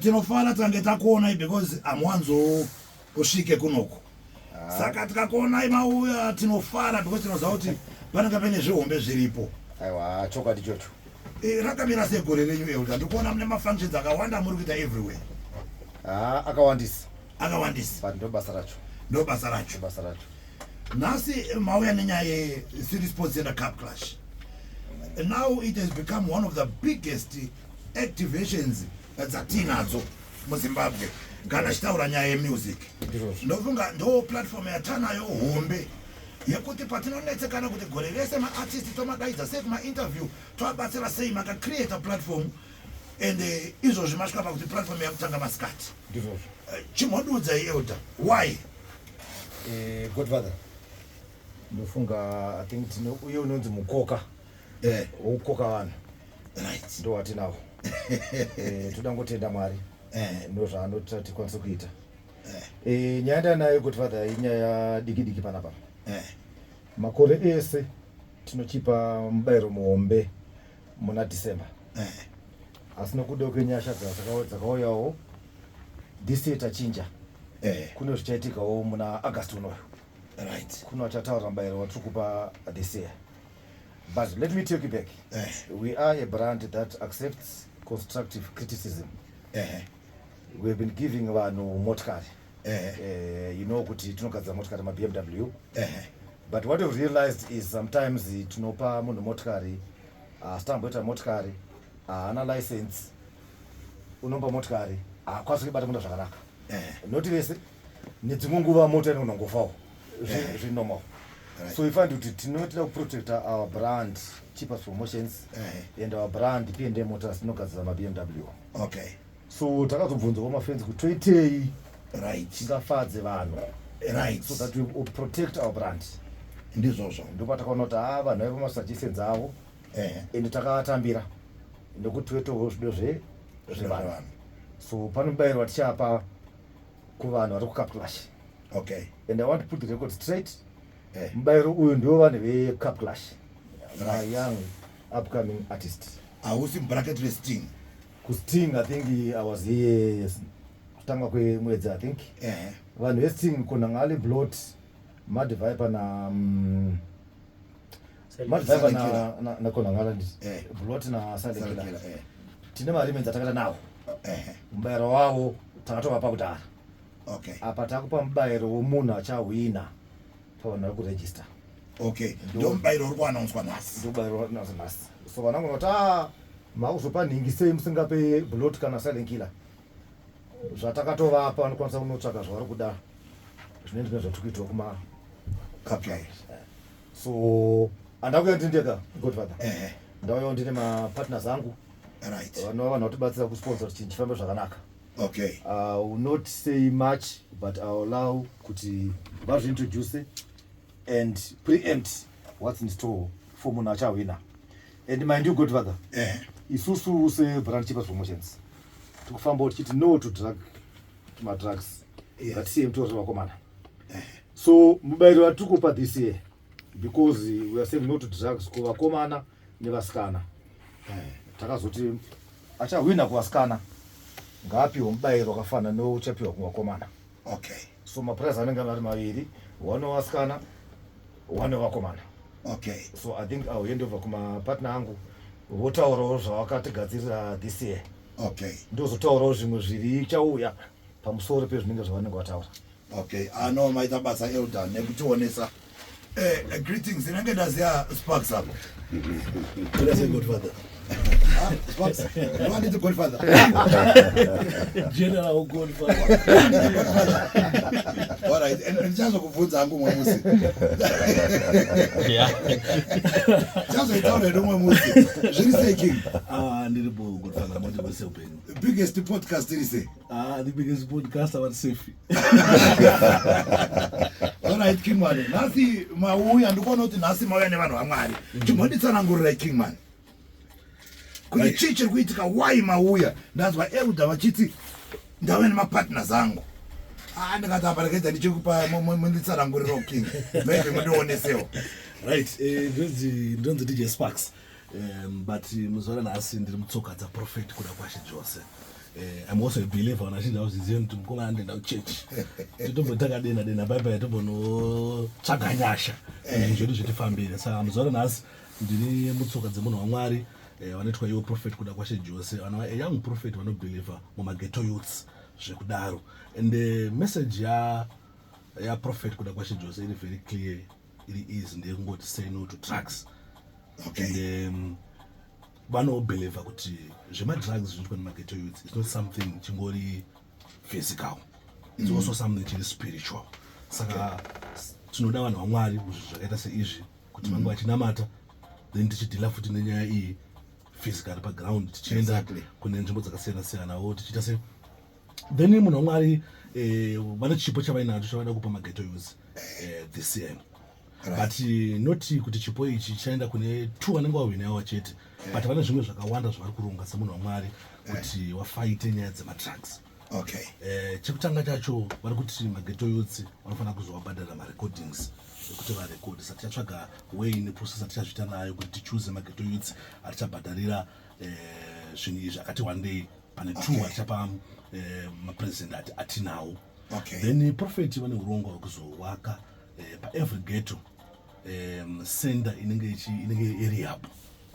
tinofara tange takuonai because amuwanzo kusvike kunoko ah. saka tikakuonai mauya tinofara because tinoziva kuti panenge paine zvihombe zviripo aiwa chokwadi chocho eh, rakamira segore renyu elda ndikuona mune mafunctions akawanda muri kuita everywhere ah, akawandisa akawandisa but ndobasa racho ndobasa racho basa racho nhasi eh, mauya nenyaya yecity sports center cup clash now it has become one of the biggest activations dzatiinadzo muzimbabwe kana achitaura nyaya yemusic ndofunga ndo platform yatanayo hombe yekuti patinonetsekana kuti gore rese maartist tomadaidza sei kumainterview toabatsira sei makacreata platform and eh, izvozvi masvika pakuti platform yakutanga masikati ndizvozvo eh, chimhodudza ielder why eh, godfather ndofunga i think tine uye unonzi mukoka eh. wokukoka vanhu right. ndo watinawo eh, toda ngotenda mwari eh. ndo zvaanoita tikwanise kuita eh. eh, nyaya ndanayo kuti father inyaya diki diki panapa eh. makore ese tinochipa mubayiro muhombe muna december eh. asi nokuda kwenyasha dzakauyawo this year tachinja eh. kune zvichaitikawo muna august unoyo right kuno achataura mubayiro watiri kupa this year But let me take you back. Uh eh. -huh. We are a brand that accepts constructive criticism. Uh eh. -huh. We have been giving vanhu motikari. Uh eh. -huh. uh, you know kuti tinogadzira motikari maBMW. Uh -huh. But what we've realized is sometimes tinopa munhu motikari asitamboita uh, motikari haana uh, license unomba motikari haakwanisi uh, kuibata munda zvakanaka. Uh -huh. Noti vese nedzimwe nguva mota inonongofawo. zvinormal right. so ifani kuti tinotida kuprotecta our brand cheapest promotions uh -huh. and our brand p and motors tinogadzira mabmw okay so takazobvunza kwamafenzi kuti toitei right tingafadze vanhu right so that we protect our brand ndizvozvo ndopatakaona kuti haa ah, vanhu vaiva masuggestions avo uh -huh. and takavatambira nekuti wetowo zvido zvevanhu so panobayirwa tichapa kuvanhu vari kucapclash okay and i want to put the record straight eh. mubairo uyu ndiwo vanhu vecapclash right. young upcoming artist hausi bracket resting kusting i think i was here kutanga kwemwedzi i think eh. vanhu vesting konangale blot mad viper na um, madriver nakona ngavandi eh. buloti nasalekela eh. tine mariments atakata nawo eh. mubayiro wavo takatovapa kudhara apa takupa mubayiro womunhu achahwina pavanhu vari kuregista okay ndo mubayiro uri kuanaonswa nhasi ndo mubayiro uri kuanaonswa nhasi so vanangu noti a makuzopa nhingi sei musingape buloti kana silent killer zvatakatovapa vanokwanisa kunotsvaga zvavari kuda zvine ndine zvatiri kuitwa kuma kpi so andakuya ndiri ndega godfather ehe ndauyawo ndine mapartners angu right vanova vanhu vatibatsira kusponsor kuti chinhu chifambe zvakanaka okay i will not say much but i will allow kuti vazviintroduce and preempt what's in store for munhu achahwina and mind you godfather ehe isusu sebrand chepa promotions tikufambawo tichiti no to drug madrugs yes. but same to zvevakomana eh. so mubairo watiri kupa this year because we are saying no to drugs kuvakomana nevasikana eh. takazoti achahwina kuvasikana ngaapiwe mubairo wakafanana neuchapiwa kuvakomana okay so maprize anenge ari maviri one wevasikana one wevakomana okay so i think iwill hand over kumapartner angu votaurawo zvavakatigadzirira this year okay ndozotaurawo zvimwe zviri chauya pamusoro pezvinenge zvavanenge vataura okay ano ah, maita basa elder nekutionesa eh, eh, greetings inenge ndaziya sparks apo Wanditi godfather. General godfather. All right, and ndichazo kubvunza hangu umwe musi. Yeah. Ndichazo itaura hedu umwe musi. Zviri sei king? Ah, ndiri bo. Kutanga manje kwese upenyu. The biggest podcast iri sei? Ah, the biggest podcast ava safe. All right King Man. Nhasi mauya ndikuona kuti nhasi mauya nevanhu vaMwari. Mm. Chimbonditsanangurirai King Man. Kuti chii chiri kuitika why mauya? Ndanzwa Elder vachiti ndave nemapartners angu. Ah, ndikati apa ndikaita ndichikupa munditsananguriro King. Maybe mundionesewo. Right, eh, ndonzi ndonzi DJ Sparks. um, but muzuva ranhasi ndiri mutsoka dzaprofet kuda kwashe jose Eh, I'm also a believer when I see the house is in to go and the church. To do but that then then bye bye to no tsvaga nyasha. Eh, eh. Zvedu zvitifambire. Saka muzoro nasi ndiri mutsoka dzemunhu waMwari eh, vanoitwa iwo prophet kuda kwashe Jose. Vana a young prophet vano believer mumaghetto youths zvekudaro. And the message ya ya prophet kuda kwashe Jose iri very clear. iri easy ndeyekungoti say no to drugs okay. and um, vanobelieve kuti zvemadrugs zvinoitwa nemageto youth its not something chingori physical its mm. also something chiri spiritual saka tinoda vanhu vamwari muzvinhu zvakaita seizvi kuti vange mm. vachinamata then tichidhila futi nenyaya iyi physically paground tichienda kune nzvimbo dzakasiyana siyanawo tichiita se then munhu wamwari eh, vane chipo chavainacho chavada kupa mageto yose eh, this year but eh, not kuti chipo ichi chaenda kune two vanenge wahwinawa chete but vane zvimwe zvakawanda zvavari kuronga semunhu wamwari kuti wafaite nyaya dzematrucks okay eh, chekutanga chacho vari kuti mageto yotsi vanofanira kuzovabhadhara marecordings ekuti varekodi sati chatsvaga way neprocess atichazvita nayo kuti tichuse mageto yotsi atichabhadharira eh, zvinhu izvi akati wandei pane two okay. vachapa eh, mapresident ati atinawo okay. then eh, prophet vane urongwa hwekuzovaka eh, paevery ghetto eh, center inenge ichi inenge irehab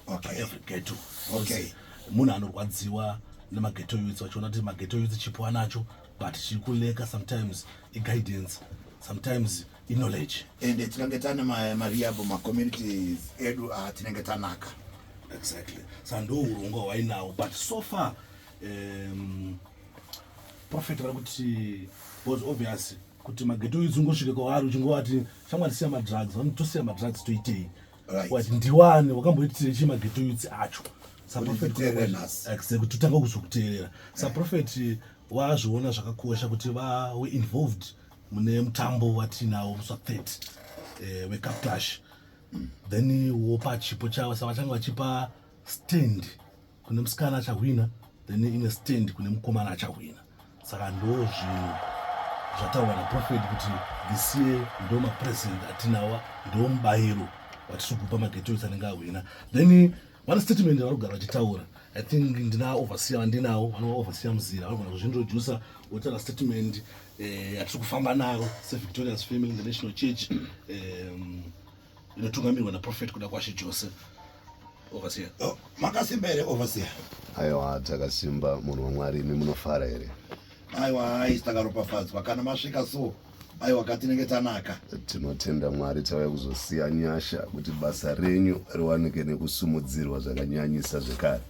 okay. paevery ghetto okay. munhu anorwadziwa nemaghetto youth vachiona kuti maghetto youth chipo anacho but chiri kuleka sometimes iguidance sometimes knowledge ende tikange tane mariable macommunities edu ah, tinenge tanaka exactly sa ndo urongwa hwainawo but so far um, prophet vari kuti was obvious kuti mageto idzi ungosvike kwavari uchingovati shamwari siya madrugs vanoti tosiya madrugs toitei wati ndiwani wakamboitirei chii mageto idzi acho kuti tanga kuzokuteerera saprofeti wazviona zvakakosha kuti vawe involved mune mutambo watinawo musi wa30 eh, wecaptash then wopa chipo chavo sa vachange vachipa stand kune musikana achahwina then ine stand kune mukomana achahwina saka ndo zvinhu zvataurwa naprofet kuti this year ndo mapresent atinawa ndo mubayiro watiri kupa magetoes anenge ahwina then vane statement vari kugara vachitaura i think ndina overseer vandinawo vanova overseer muzira vanogona kuzvintroducer votaura statement uh, eh, atiri kufamba naro sevictorious family international church um, inotungamirwa naprofet kuda kwashe jose overseer oh, makasimba here overseer aiwa takasimba munhu wamwari imi munofara here aiwa aisi takaropafadzwa kana masvika so aiwa ka tinenge tanaka tinotenda mwari tauya kuzosiya nyasha kuti basa renyu riwanike nekusumudzirwa zvakanyanyisa zvekare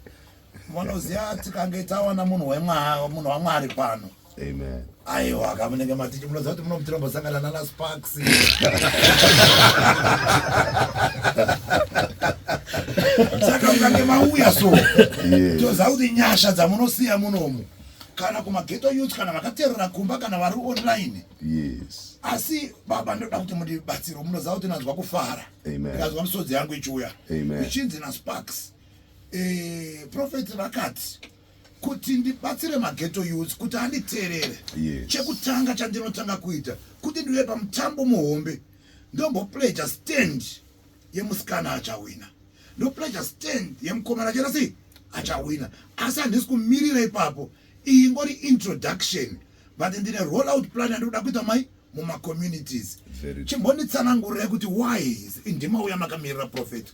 vanoziva tikange tawana munhu wemwaa munhu wamwari pano Amen. Aiwa kamunenge matichi munoziva kuti munomutirambosangana nana sparks saka mukange mauya so toziva kuti nyasha dzamunosiya munomu kana kumageto youth kana vakaterera kumba kana vari online yes asi baba ndoda kuti mundibatsiro munoziva kuti nanzwa kufara ndikazwa misodzi yangu ichiuya ichinzi nasparks eh, prophet vakati kuti ndibatsire mageto youth kuti anditeerere yes. chekutanga chandinotanga kuita kuti ndive pamutambo muhombe ndombopleja stand yemusikana achawina ndopleja stand yemukomana chera sei achawina asi handisi kumirira ipapo iyi ngori introduction but ndine roll out plan yandikuda kuita mai mumacommunities chimbonditsanangurira kuti why ndimauya makamirira prophet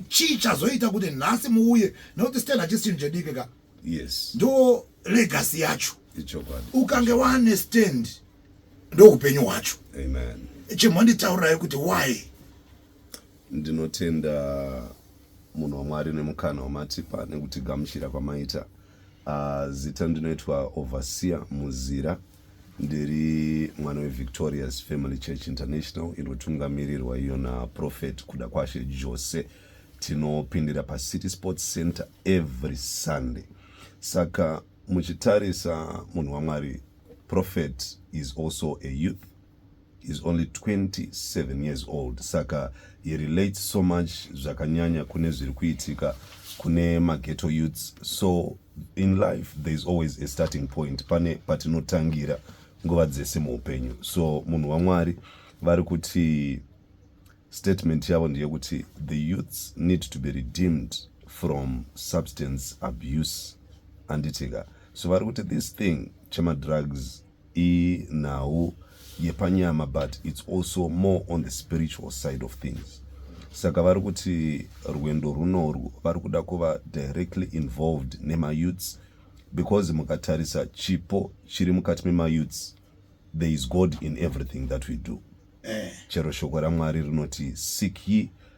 chii chazoita kuti nhasi muuye nekuti stel hachisi chinhu chediki ka yes ndo legacy yacho ukange wane stand ndoupenyu hwacho chimonditaurirai kuti why ndinotenda munhu wamwari nemukana wamatipa nekuti gamuchira kwamaita uh, zita ndinoitwa overseer muzira ndiri mwana wevictorious family church international inotungamirirwa iyo naprofet kuda kwashe jose tinopindira pacity sports center every sunday saka muchitarisa munhu wamwari prophet is also a youth is only 27 years old saka he relates so much zvakanyanya kune zviri kuitika kune mageto youths so in life there is always a starting point pane patinotangira nguva dzese muupenyu so munhu wamwari vari kuti statement yavo ndeyekuti the youths need to be redeemed from substance abuse anditika so vari kuti this thing chemadrugs inhau yepanyama but its also more on the spiritual side of things saka vari kuti rwendo runorwu vari kuda kuva directly involved nemayouths because mukatarisa chipo chiri mukati memayouths there is god in everything that we do eh. chero shoko ramwari rinoti seek ye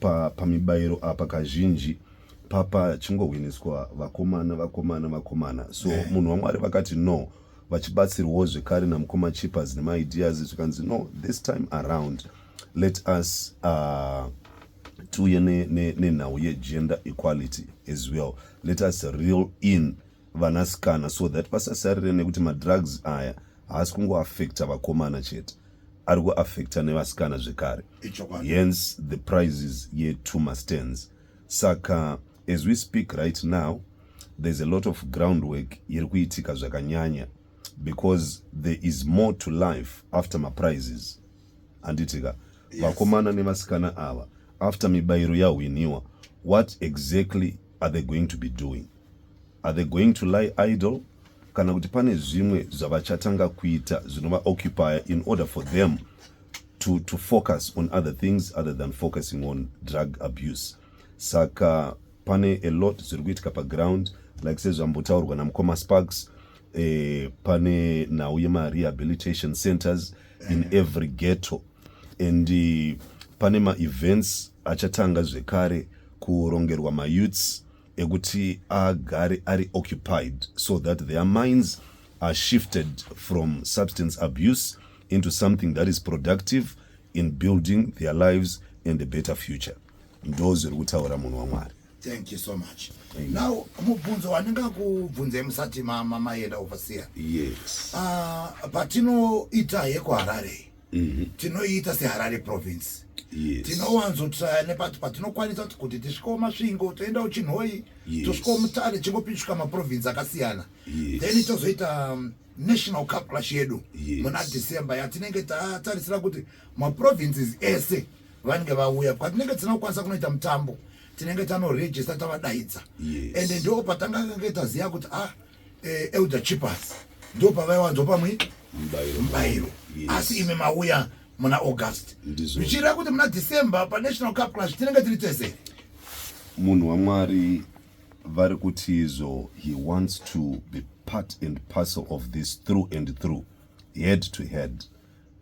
Pa, pamibairo apa kazhinji papa chingohwiniswa vakomana vakomana vakomana so yeah. munhu wamwari vakati no vachibatsirwawo zvekare namukoma chipas nemaideas zvikanzi no this time around let us uh, tiuye nenhau ne, ne yegender equality as well let us real in vanasikana so that pasasarire nekuti madrugs aya haasi kungoafecta vakomana chete ari kuafecta nevasikana zvekare hence the prizes yetuma stands saka as we speak right now there's a lot of groundwork iri kuitika zvakanyanya because there is more to life after maprizes handitika vakomana yes. nevasikana ava after mibairo yahwiniwa what exactly are they going to be doing are they going to lie idle kana kuti pane zvimwe zvavachatanga kuita zvinovaoccupya in order for them to, to focus on other things other than focusing on drug abuse saka pane a lot zviri kuitika paground like sezvambotaurwa namukoma sparks eh, pane nhau yemarehabilitation centers in every ghetto and uh, pane maevents achatanga zvekare kurongerwa mayouths ekuti agare ari occupied so that their minds are shifted from substance abuse into something that is productive in building their lives and a better future ndo zviri kutaura munhu wamwari thank you so much Amen. now mubvunzo wandinga kubvunzai musati maenda overseer yes uh, patinoita yekuharare Mhm. tinoiita seharare province yes. tinowanzotraya nepati patinokwanisa kuti kuti tisvikewo masvingo toenda uchinhoyi Yes. tosvikewo mutare chingopinzvika maprovince akasiyana Yes. then tozoita um, national cup clash yedu Yes. muna december yatinenge tatarisira kuti maprovinces ese vanenge vauya kwatinenge tisina kukwanisa kunoita mutambo tinenge tanoregista tavadaidza Yes. and ndo patangakange taziva kuti ah eh, elder chipas ndo pavaiwanzwa pamwe mubairo asi imi mauya muna august zvichireva kuti muna december panational cup clash tinenge tiri tese munhu wamwari vari kuti izvo he wants to be part and parcel of this through and through head to head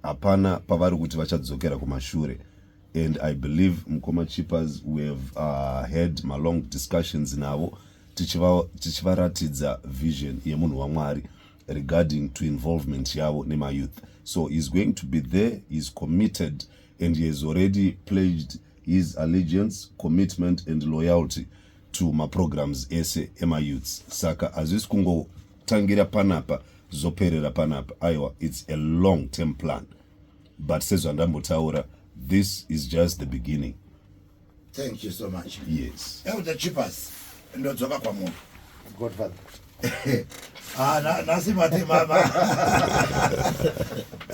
hapana pavari kuti vachadzokera kumashure and i believe mukoma chippers we have uh, had malong discussions navo tichivaratidza tichiva vision yemunhu wamwari regarding to involvement yavo nemayouth so heis going to be there heis committed and he has already pledged his allegiance commitment and loyalty to maprograms ese emayouths saka hazvisi kungo tangira panapa zoperera panapa aiwa its a long term plan but sezvandambotaura this is just the beginning thank you so much yes elder chipas ndodzoka kwamuri godfather ah, nhasi mati mama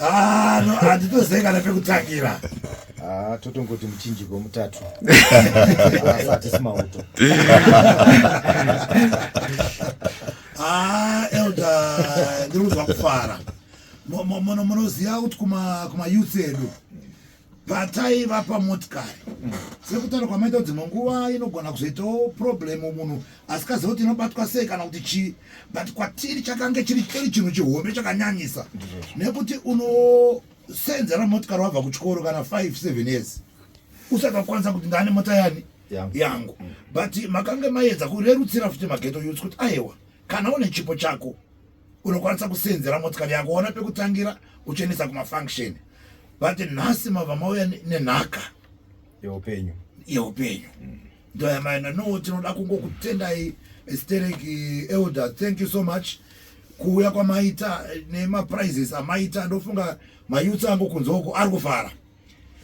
ah, handitozei kana pekutangira Ah, totongoti muchinjiko mutatu asatisi mauto ah, elda ndiri kuzwa kufara munoziva kuti kumayouth edu pataiva pamotikari sekutaura kwamaita dzimwe nguva inogona kuzoitawo problem munhu asikaziva kuti inobatwa sei kana kuti chii but kwatiri chakange chiri chiri chinhu chihombe chakanyanyisa nekuti uno senze ramotikari wabva kuchikoro kana 5 7 years usakakwanisa kuti ndane mota yani yangu mm. but makange maedza kurerutsira futi mageto yuts kuti ayewa kana une chipo chako unokwanisa kusenzera motikari yako ona pekutangira uchenesa kumafunction but nhasi mava mauya nenhaka yeupenyu yeupenyu mm. Ndoya maina no tinoda kungokutendai stereki elder thank you so much kuuya kwamaita nemaprizes amaita ndofunga mayutsi angu kunze uku ari kufara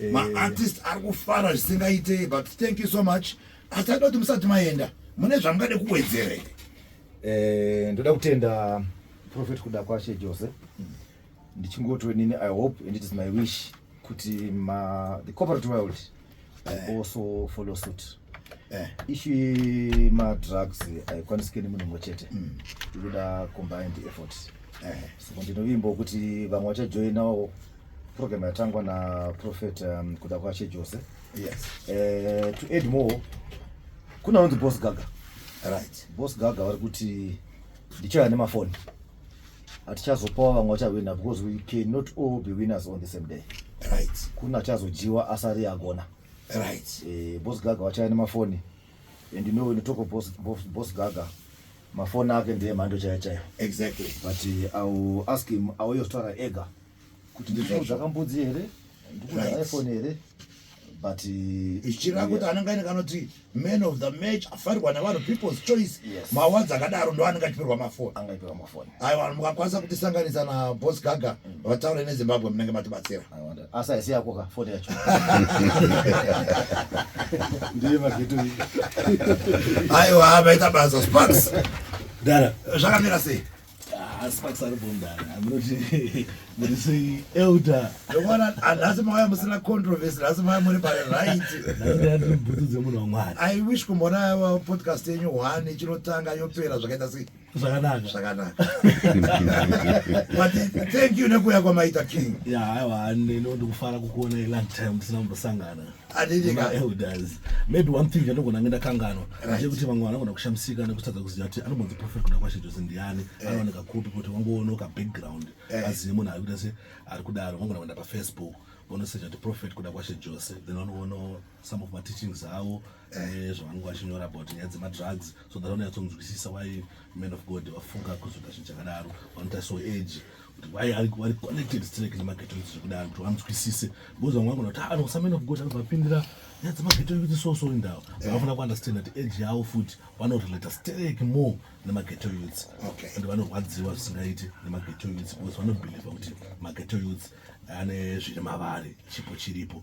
eh. maartist ari kufara zvisingaite but thank you so much asi aida kuti musati maenda mune zvamungade kuwedzera here eh, ndoda kutenda prophet kuda kwashe jose hmm. ndichingotoinini i hope and it is my wish kuti ma, the corporate world mm. eh. also follow suit eh. ishi madrugs haikwanisike nemunhu mumwe chete mm. ikuda combined effort eh. so ndinovimbawo kuti vamwe vachajoinawo program yatangwa naprofet um, kuda kwache jose yes. uh, to add more kuna unonzi boss gaga right. boss gaga vari kuti ndichaya nemafoni hatichazopawo vamwe vachahwina because we cannot all be winners on the same day right kuna achazodyiwa asari agona right eh, boss gaga wachaya nemafoni and you know when you talk of boss, boss, boss gaga mafoni ake ndiye mhando chaya chaya exactly but uh, i will ask him auyozotaura ega kuti ndizvo zvakambudzi here ndikuda iphone here but uh, ichireva kuti anenge aine kanoti man of the match afarirwa nevanhu people's choice mawards akadaro ndo anenge achiperwa mafoni aiwa mukakwanisa kutisanganisa na bos gaga mm. vataure nezimbabwe munenge matibatsira asi haisi yako ka foni yacho ndiye mageto aiwa maita basa sparks zvakamira sei nhasi mauya musina controversy nhasi mauya muri pari rightbhutu dzemunhu wamwari i wish kumboona uh, podcast yenyu one ichinotanga yopera zvakaita sei zvakanaka zvakanaka but thank you nekuuya kwamaita king ya aiwa ndinondikufara kukuona long time tisina kumbosangana elders maybe one thing yanogona nge ndakanganwa ndechekuti vamwe vanogona kushamisika nekutadza kuziva kuti anobonzi prophet kuna kwashe jose ndiani eh. anooneka kupi kuti wangoonoka background eh. azive munhu ari kuita se ari kudaro vangona kuenda pafacebook vonoseja kuti prophet kuda kwashe jose then vanoona some of mateachings avo eh. zvavanenge vachinyora about nyaya dzemadrugs so that vanoyatsonzwisisa why man of god vafunga kuzoita zvinhu chakadaro vanoita so age why ari wari connected straight nemageto yuti zvekuda antu anzwisise because vamwe vagona kuti ano samena kugota vapindira nyaya dzemageto yuti so so indawo vanofanira kuunderstand that age yavo futi vanorelata straight more nemageto yuti and vanorwadziwa zvisingaiti nemageto yuti because vanobhilivha kuti mageto yuti ane zviri mavari chipo chiripo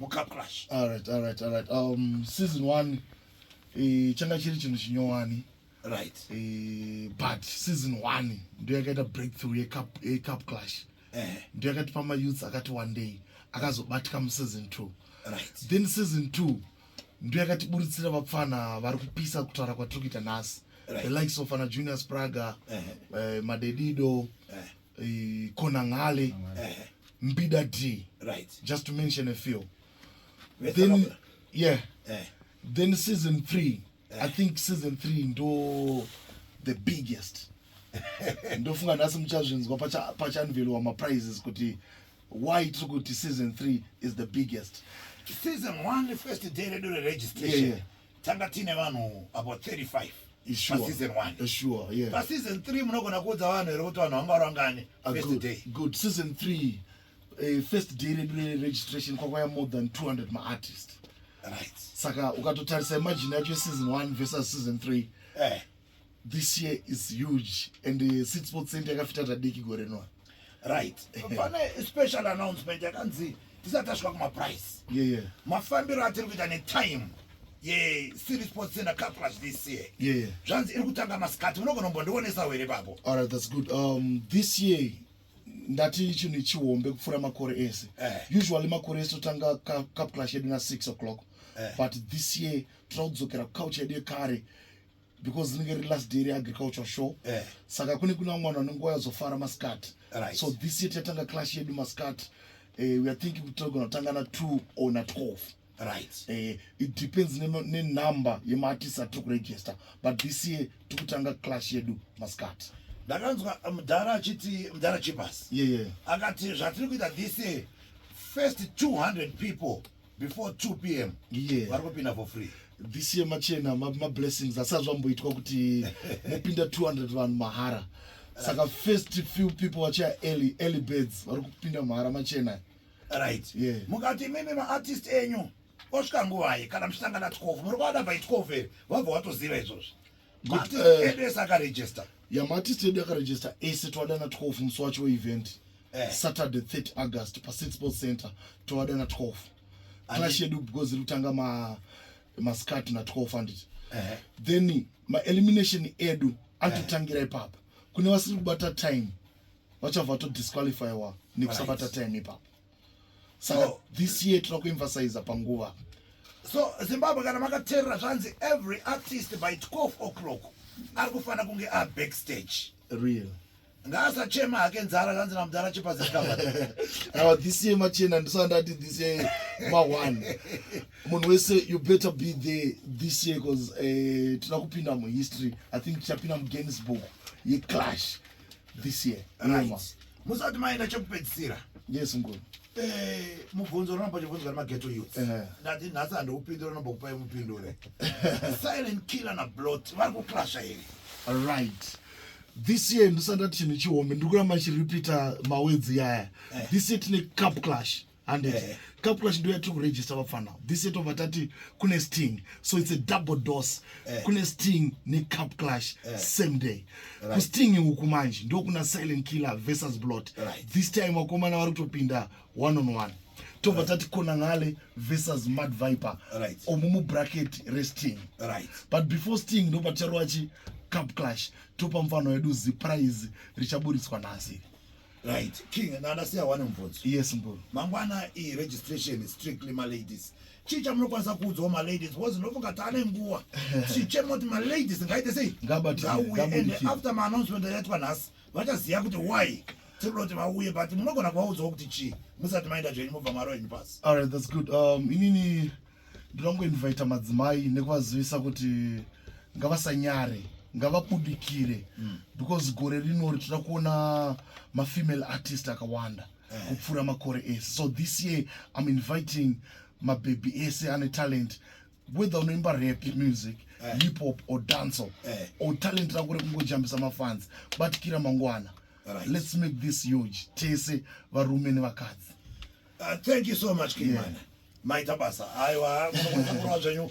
mucup clash alright alright alright um season 1 eh changa chiri chinhu chinyowani right eh but season 1 ndiyo yakaita breakthrough ye cup ye cup clash eh ndiyo yakati pama youths akati one day akazobatika mu season 2 right then season 2 ndiyo yakati buritsira vapfana vari kupisa kutaura kwatiri kuita nhasi right. the likes of ana junior spraga eh uh -huh. uh, madedido eh uh -huh. eh, konangale Ehe. mbida d Right. just to mention a few Vese then vakura. yeah Eh. then season three i think season three ndo the biggest ndofunga nhasi muchazvinzwa pacha- pachanveliwa maprizes kuti why tiri kuti season three is the biggest Season one, first day redu Yeah, reregistration. yeah. tanga tiine vanhu about 35 paseason 1 sure, yeah. paseason 3 munogona kuudza vanhu here kuti vanhu vanga varangani ah, first day good season 3 Uh, eh, first day redu reregistration kwakwaya more than 200 maartist right saka ukatotarisa imagine yacho season 1 versus season 3 eh. this year is huge and uh, sit sports center yakafita tadiki gore noa right pane special announcement yakanzi tisati tasvika kumaprice yeah, yeah. mafambiro atiri kuita netime yecity sports center caplus this year yeah. zvanzi iri kutanga masikati munogonombondionesawo here papo alright that's good um, this year ndati chinhu chihombe kupfuura makore ese eh. usually makore ese totanga caplus yedu na 6 o'clock eh. but this year tinoda kudzokera kucouch yedu yekare because rinenge riri last day reagricultural show eh. saka kune kuna mwana anenguva yazofara masikati right. so this year tatanga clash yedu masikati uh, eh, we are thinking kuti togona kutanga na two or na twelve right uh, it depends nenumber ne yemaartist atiri kuregister but this year tiri kutanga clash yedu masikati ndakanzwa eh, mudhara achiti mudhara chipas yeah, yeah. akati zvatiri kuita this year first 200 people before 2 pm yeah. vari kupinda for free this year machena mablessings ma asati zvamboitwa kuti mopinda 200 vanhu mahara saka first few people vachia early early birds vari kupinda mahara machena right yeah. mukati imimi maartist enyu osvika nguvai kana muchitanga na 12 muri kuada by 12 here wabva watoziva izvozvo But, uh, edes akaregister yamati steady akaregister ese toadana 12 musi wacho weevent eh. saturday 30 august pasix sports center toadana 12 clash yedu because iri kutanga ma mascart na12 handiti eh. then maelimination edu antotangira eh. ipapa kune vasiri kubata time vachabva vatodisqualifywa nekusabata time ipapa so this year tinoku emphasize panguva so zimbabwe kana makaterera zvanzi every artist by 12 o'clock ari kufanira kunge a backstage real ngaasachema hake nzara kanzi namudhara chepazikava awa this year machena ndisandati this year ma one munhu wese you better be there this year bcause uh, eh, tina kupinda muhistory i think tichapinda muguinness book yeclash this year right. musati maenda chekupedzisira yes ngoni eh, mubvunzo unonomba chibvunzo kana mageto youth eh. ndati nhasi handiupindure unomba kupai mupindure silent killer na blot vari kuclasha here right this year ndisandati chinhu chihombe ndiri kuramba chiripita mawedzi yaya eh. this year tine cup clash handiti yeah. caplash ndo yatiri kuregista vapfana this yeto vatati kune sting so its a double dose yeah. kune sting necapclash yeah. same day right. kusting uku manje ndokuna silent killer versus blot right. this time vakomana vari kutopinda one on one tobva tati kona ngale versus mad viper right. omu mubracket resting right. but before sting ndopa ticharoachi capclash topa mfano wedu ziprize richaburitswa nhasi Right. King, and I say one mvunzo. Yes, Mbulu. Mangwana i registration is strictly my ladies. Chii chamunokwanisa kuudzawo ma ladies because ndofunga taane nguva tichichema kuti ma ladies ngaite sei ngauye and after ma announcement yaitwa nhasi vachaziva kuti why tinoda kuti vauye but munogona kuvaudzawo kuti chii musati maenda zvenyu mobva maro henyu pasi. All right, that's good. Um, inini ndinoda kungoinvaita madzimai nekuvazivisa kuti ngavasanyare ngavabudikire mm. because gore rino richida kuona mafemale artist akawanda eh. kupfuura makore ese so this year im inviting mabhebhi ese ane talent whether unoimba rap music eh. hip hop or danco eh. or talent rako rekungojambisa mafans batikira mangwana right. let's make this huge tese varume nevakadzi Uh, thank you so much King yeah. Maita basa. Aiwa, munokurudzirwa zvenyu.